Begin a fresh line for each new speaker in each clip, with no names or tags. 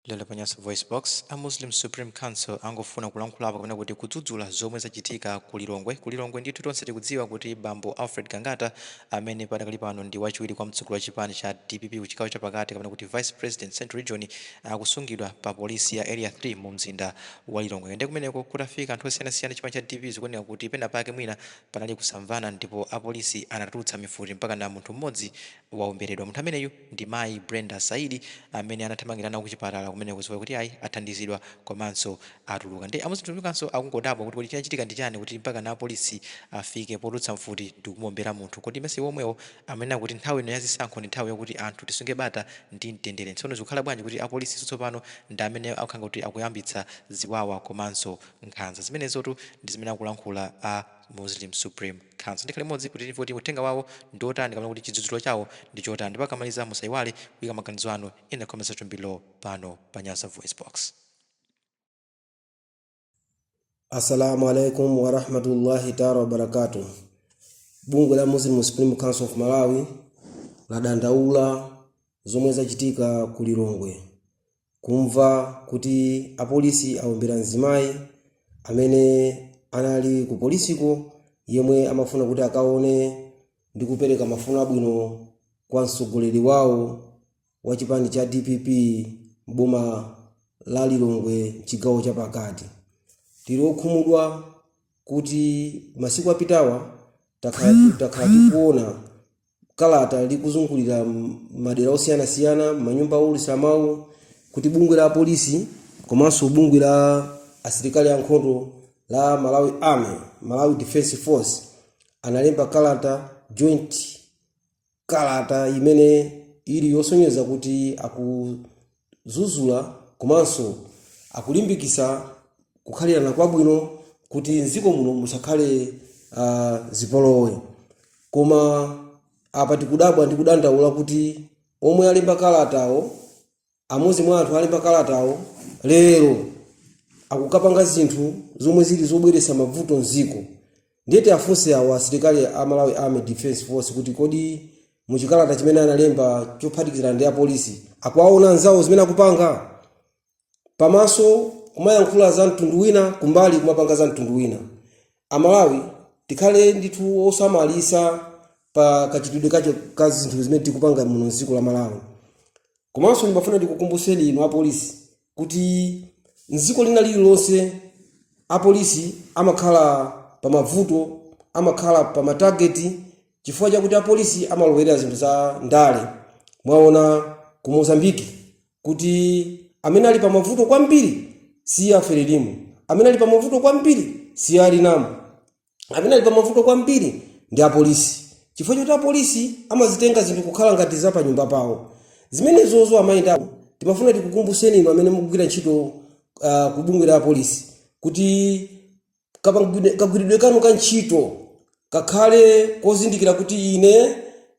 Lero pa Nyasa VoiceBox, a Muslim Supreme Council angofuna kulankhulapo kapena kuti kudzudzula zomwe zachitika ku Lilongwe. Ku Lilongwe ndithu tonse tikudziwa kuti bambo Alfred Gangata amene padakali pano ndi wachiwiri kwa mtsogoleri wa chipani cha dpp ku chigawo chapakati kapena kuti Vice President Central Region akusungidwa pa polisi ya Area 3 mu mzinda wa Lilongwe. Nde kumeneko kutafika anthu osiyanasiyana chipani cha dpp zikuoneka kuti pena pake mwina panali kusamvana ndipo apolisi anatulutsa mifuti mpakana munthu mmodzi waomberedwa. Munthu ameneyu ndi mayi Brenda Saidi amene anathamangira nawo kuchipatala kumeneko chifukwa choti ayi athandizidwa komanso atuluka nde a Muslim Council akungodabwa kuti kodi chinachitika ndi chani kuti mpakana a Polisi afike potulutsa mfuti ndikumuombera munthu kodi mesa iwo omwewo amanena kuti nthawi ino ya zisankho ndi nthawi yokuti anthu tisunge bata ndi mtendere tsono zikukhala bwanji kuti a Polisiso tsopano ndi amene akukhala ngati kuti akuyambitsa ziwawa komanso nkhanza zimenezotu ndi zimene akulankhula a Muslim Supreme Council tikhale limodzi kuti timve kuti uthenga wawo ndi otani kapena kuti chidzudzulo chawo ndi chotani ndipo akamaliza musayiwale kuyika maganizo anu in the comment section below pano pa Nyasa Voice Box.
Assalamu alaikum warahmatullahi taala wabarakatuh. Bungwe la Muslim Supreme Council of Malawi ladandaula zomwe zachitika ku Lilongwe kumva kuti apolisi aombera mzimayi amene anali ku polisiko yemwe amafuna kuti akaone ndi kupereka mafuno abwino kwa mtsogoleri wawo wa chipani cha dpp m'boma la lilongwe mchigawo chapakati tili okhumudwa kuti masiku apitawa takhala tikuona kalata ikuzungulira m- madera osiyanasiyana manyumba owulutsa mawu kuti bungwe la polisi komanso bungwe la asilikali ankhondo la malawi army malawi defense force analemba kalata joint kalata imene ili yosonyeza kuti akuzuzula komanso akulimbikisa kukhalirana kwabwino kuti mdziko muno musakhale uh, zipolowe koma apa tikudabwa ndi kudandaula kuti omwe alemba kalatawo amodzi mwa anthu alemba kalatawo lero akukapanga zinthu zomwe zili zobweretsa mavuto mdziko Ndiye tiafunse awo asilikali a Malawi Army Defense Force kuti kodi mu chikalata chimene analemba chophatikizana ndi apolisi akuwaona anzawo zimene akupanga? Pamaso kumayankhula za mtundu wina, kumbali kumapanga za mtundu wina. Amalawi tikhale ndithu osamalitsa pa kachitidwe kake ka zinthu zimene tikupanga muno m'dziko la Malawi. Komanso ndimafuna ndikukumbutseni inu apolisi kuti mdziko lina lililonse apolisi amakhala pa mavuto amakhala pa matageti chifukwa chakuti apolisi amalowerera zinthu za ndale mwaona ku mozambiki kuti amene ali pa mavuto kwambiri si a frelimo amene ali pa mavuto kwambiri si a renamo amene ali pamavuto kwambiri ndi apolisi chifukwa choti apolisi amazitenga zinthu kukhala ngati za pa nyumba pawo zimenezozo amayendamo timafuna tikukumbuseni inu amene mukugwira ntchito uh, ku bungwe la apolisi kuti kapangwide- kagwiridwe kanu ka ntchito kakhale kozindikira kuti ine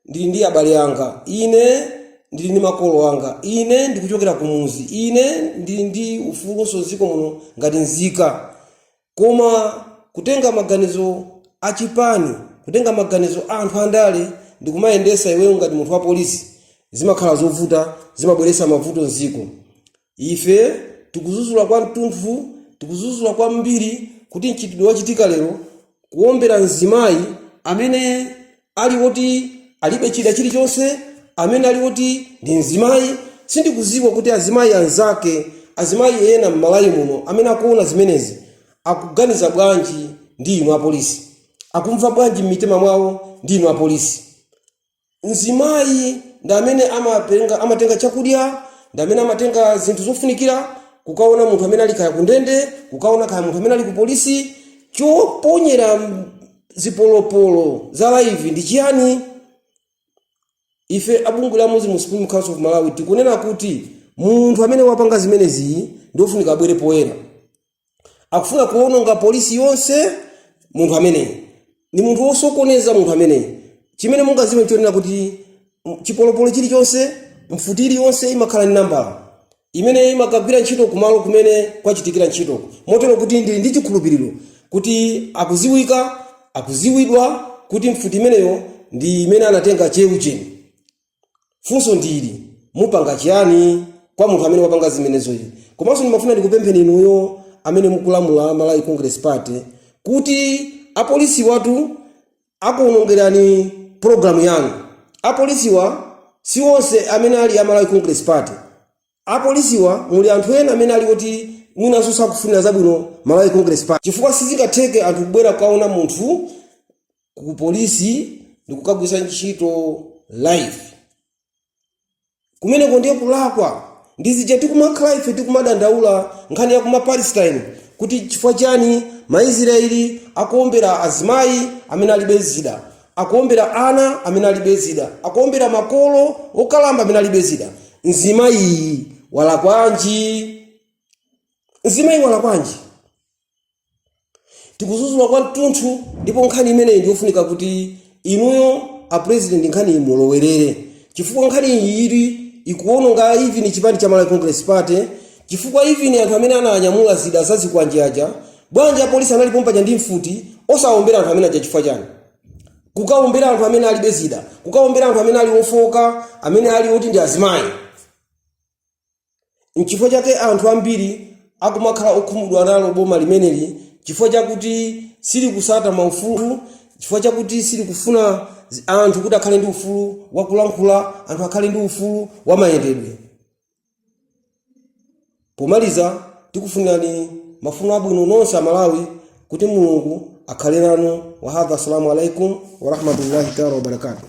ndili ndi abale anga ine ndili ndi makolo anga ine ndikuchokera kumuzi ine ndili ndi ufulunso mdziko muno ngati nzika Koma kutenga maganizo a chipani, kutenga maganizo a anthu andale ndikumayendesa iweyo ngati munthu wa polisi zimakhala zovuta zimabweresa mavuto mziko. Ife tikuzuzula kwa ntunthu tikuzuzula kwambiri kuti mchitidwe wachitika lero kuombera mzimayi amene ali oti alibe chida chilichonse amene ali oti ndi mzimayi sindikuziwa kuti azimayi anzake azimayi ena m'malawi muno amene akuona zimenezi akuganiza bwanji ndi inu apolisi akumva bwanji m'mitima mwawo ndi inu apolisi mzimayi ndi amene amatenga, amatenga chakudya ndi amene amatenga zinthu zofunikira kukaona munthu amene ali kaya kundende kukaona kaya munthu amene ali ku polisi choponyera m- zipolopolo za live ndi chiyani ife abungwe la muslim supreme council of malawi tikunena kuti munthu amene wapanga zimenezi ndiofunika abwere poyera akufuna kuononga polisi yonse munthu ameneyi ni munthu wosokoneza munthu ameneyi chimene mungaziwe nchonena kuti m- chipolopolo chilichonse mfuti iliyonse imakhala ni nambala imene imakagwira ntchito kumalo kumene kwachitikira ntchitoko, motero kuti ndili ndi chikhulupiriro kuti akuziwika, akuziwidwa kuti mfuti imeneyo ndi imene anatenga che ujeni. Funso ndi ili, mupanga chiyani kwa munthu amene wapanga zimenezoyi? Komanso ndimafuna ndikupempheni inuyo amene mukulamula Malawi Congress Party kuti apolisiwatu akuonongerani program yanu apolisiwa si onse amene ali a malawi congress party apolisiwa muli anthu ena amene ali kuti mwinanso sakufunira zabwino malawi congress party chifukwa sizingatheke anthu kubwera kukaona munthu ku polisi ndikukagwisa ntchito live kumeneko ndiye kulakwa ndi zija tikumakhala ife tikumadandaula nkhani ya kuma palestine kuti chifukwa chani maisraeli akuombera azimayi amene alibe zida akuombera ana amene alibe zida akuombera makolo okalamba amene alibe zida mzimayiyi walakwanji mzimayi walakwanji tikudzudzula kwa mtunthu ndipo nkhani imeneyi ndiyofunika kuti inuyo a president nkhani iyi mulowerere chifukwa nkhani iyi ili ikuononga even chipani cha malawi congress party chifukwa even anthu amene ananyamula zida zazikwanje aja bwanji apolisi anali pompaja ndi mfuti osawombera anthu amene aja chifukwa chani kukawombera anthu amene alibe zida kukawombera anthu amene ali ofoka amene ali oti ndi azimayi N'chifukwa chake anthu ambiri akumakhala okhumudwa nalo boma limeneli chifukwa chakuti silikutsata maufulu, chifukwa chakuti silikufuna zi- anthu kuti akhale ndi ufulu wa kulankhula, anthu akhale ndi ufulu wa mayendedwe. Pomaliza, tikufunirani mafuno abwino nonse a Malawi kuti Mulungu akhale nanu. Wahadha, assalamu alaikum warahmatullahi taala wabarakatuh.